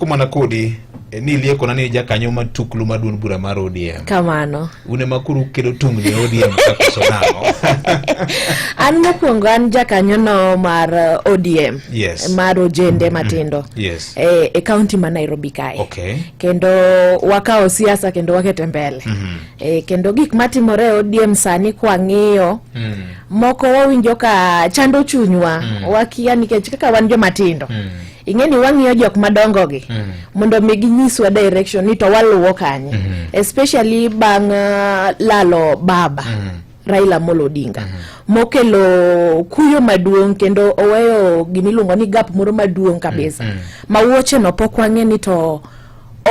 kumana kodi eh, ni lieko na ni jakanyo matuklu maduon bura mar ODM. Kamano. Une makuru kedo tung ni ODM kakoso namo. an mokwongo an jakanyo no mar eh, ODM. Yes. Mar ojende mm-hmm. matindo. Yes. E, e county ma Nairobi kae. Okay. Kendo wakao siasa kendo wakete mbele. Mm -hmm. E, kendo gik matimore ODM sani kwa ng'iyo. Mm -hmm. Moko wawinjo ka chando chunywa. Mm -hmm. Wakia nikech kaka wan jomatindo. Mm -hmm. ing'e ni wang'iyo jok madongo gi mm. mondo mi ginyiswa direction ni to waluwo kanye mm -hmm. especially bang' uh, lalo baba mm -hmm. Raila Amolo Odinga mm -hmm. mokelo kuyo maduong' kendo oweyo gimiluongo ni gap moro maduong' kabisa mm -hmm. ma wuoche no pok wang'e ni to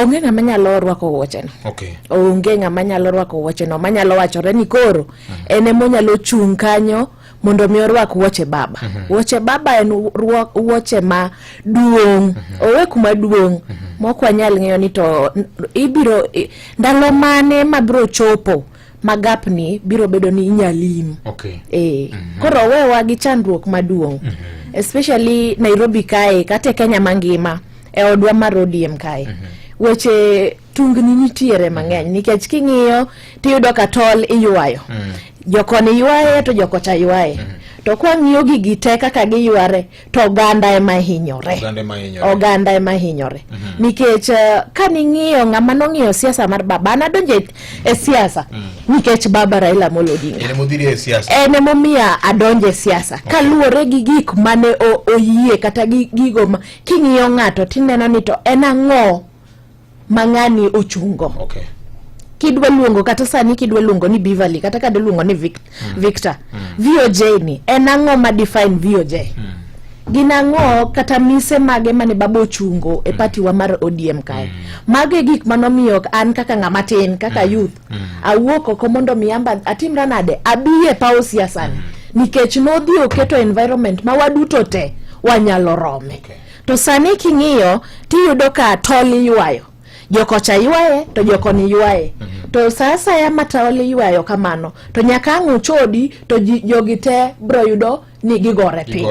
onge ng'ama nyalo rwako wuocheno okay. onge ng'ama nyalo rwako wuocheno manyalo wachore ni koro mm -hmm. en emonyalo chung' kanyo mondo mi orwak wuoche baba mm -hmm. wuoche baba en wuoche ma duong' mm -hmm. owe kuma duong' mm -hmm. mok wanyal ng'eyo ni to ibiro ndalo mane mabiro chopo magapni biro bedo ni inyalim okay. e. mm -hmm. koro owewa gi chandruok maduong' mm -hmm. especially nairobi kae kata e kenya mangima e odwa mar odm kae mm -hmm. weche tungni nitiere mang'eny nikech king'iyo tiyudo ka tol iywayo mm. jokoni ywaye to jokocha ywaye mm. to kwang'iyo gigi te kaka giyware to oganda ema hinyore oganda ema hinyore mm -hmm. nikech uh, eh, ka ning'iyo ng'ama nong'iyo siasa mar baba an adonjo e siasa mm. nikech baba Raila Amolo Odinga en emomiya adonjo e siasa okay. kaluwore gi gik mane oyie kata gigo ma king'iyo ng'ato tineno ni to en ang'o ma ng'ani ochungo okay. kidwa luongo kata sani kidwa luongo ni Beverly kata kade luongo ni Vic mm. Victor mm. VOJ ni en ang'o ma define VOJ mm. gin ang'o kata mise mage mane baba ochungo e mm. patiwa mar ODM kae mm. mago e gik manomiyo an kaka ng'ama tin kaka mm. youth mm. awuok oko mondo mi amba atimra nade abi e pawo siasani mm. nikech nodhi oketo environment ma waduto te wanyalo rome okay. To sani king'iyo tiyudo ka tol iywayo jokocha ywaye to jokoni ywaye mm -hmm. to saa asaya ma tol iywayo kamano to nyaka ang' uchodi to jogi te bro yudo ni gigore piny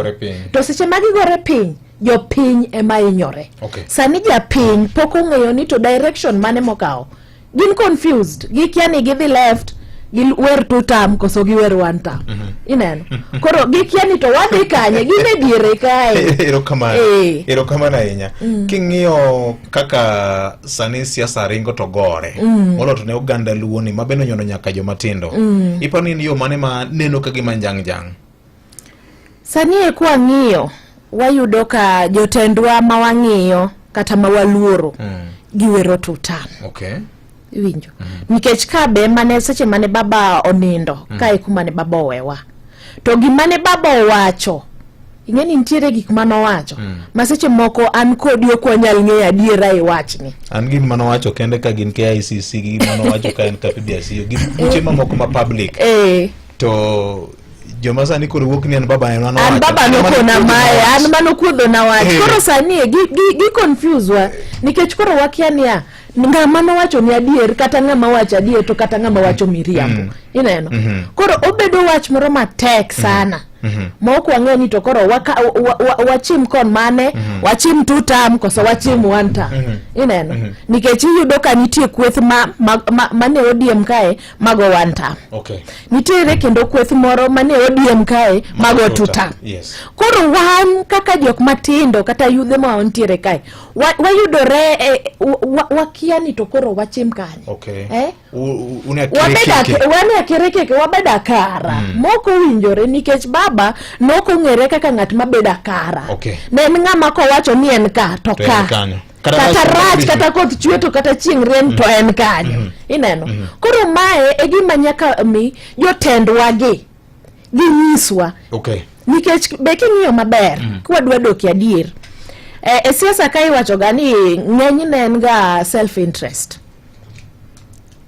to seche ma gigore piny jopiny ema inyore okay. sani japiny pok ong'eyo ni to direction mane mokawo gin confused gikia ni gidhi left giwer two term koso giwer one term mm -hmm. ineno koro gikia ni to wadhi kanye gin e diere kae erokamano eh. erokamano ahinya mm. king'iyo kaka sani siasa ringo to gore mm. molo to ne oganda luoni ma bende onyono nyaka jomatindo mm. iparo ni en yo mane ma neno ka gima njang' jang' Sani e kwa ng'iyo wayudo ka jotendwa ma wang'iyo kata ma waluoro mm. giwero tutan okay. iwinjo mm -hmm. nikech ka be mane seche mane baba onindo mm -hmm. kae kuma ne baba owewa to gima ne baba owacho ing'e ni nitiere gik ma nowacho mm. ma seche moko an kodi ok wanyal ng'eyo adiera e wachni an gin ma nowacho kende ka gin KICC gin ma nowacho ka en KPDC gin kuche mamoko ma public eh. to joma sani koro wuok ni an baba en mano an baba nokona maye an mano kuodho na wach eh. koro sani e, gi gi, gi confuse wa nikech koro wakia niya ng'ama nowacho ni adier kata ng'ama wacho adier to kata ng'ama wacho miriambo mm. ineno mm -hmm. koro obedo wach moro matek mm-hmm. sana mm -hmm. Mhm. ma ok wang'e ni to koro wachim kon mane mhm. wachim two tam koso wachim one tam mhm. ineno nikech iyudo ka nitie kweth ma ne odiem kae mago one term okay. nitiere kendo kweth moro mane odiem kae mago two term yes. koro wan kaka jok matindo kata yudhe ma wantiere kae wayudore wa eh, wakia wa ni to koro wachim kanye okay. eh? wania kere keke wabeda kara mm. moko winjore nikech baba nokong'ere kaka ng'at mabeda kara okay. ne en ng'ama kowacho ni en ka to, to ka kata rach kata koth chwe to kata chieng' rieny to en kanyo mm-hmm. ineno mm-hmm. koro mae e gima nyaka mi jotendwa gi ginyiswa nikech be king'iyo maber mm-hmm. kwadwa doki adier e, e siasa ka iwachoga ni ng'enyne en ga self interest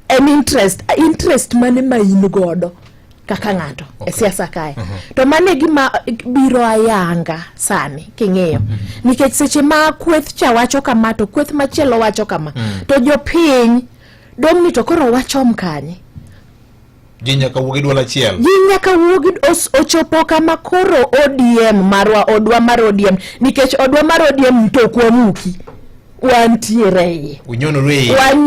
en interest interest mane ma in godo kaka ng'ato e okay. e siasa kae uh mhm. -huh. to mane gima biro ayanga sani king'iyo uh mhm. -huh. nikech seche ma kweth cha wacho kama to kweth machielo wacho kama uh mhm. -huh. to jopiny dong' ni to koro wachom kanye ji nyaka wuo gi dwol achiel ji nyaka wuo gi ochopo kama koro odm marwa odwa mar odm nikech odwa mar odm to kwamuki wantiere iye wanyonoru iye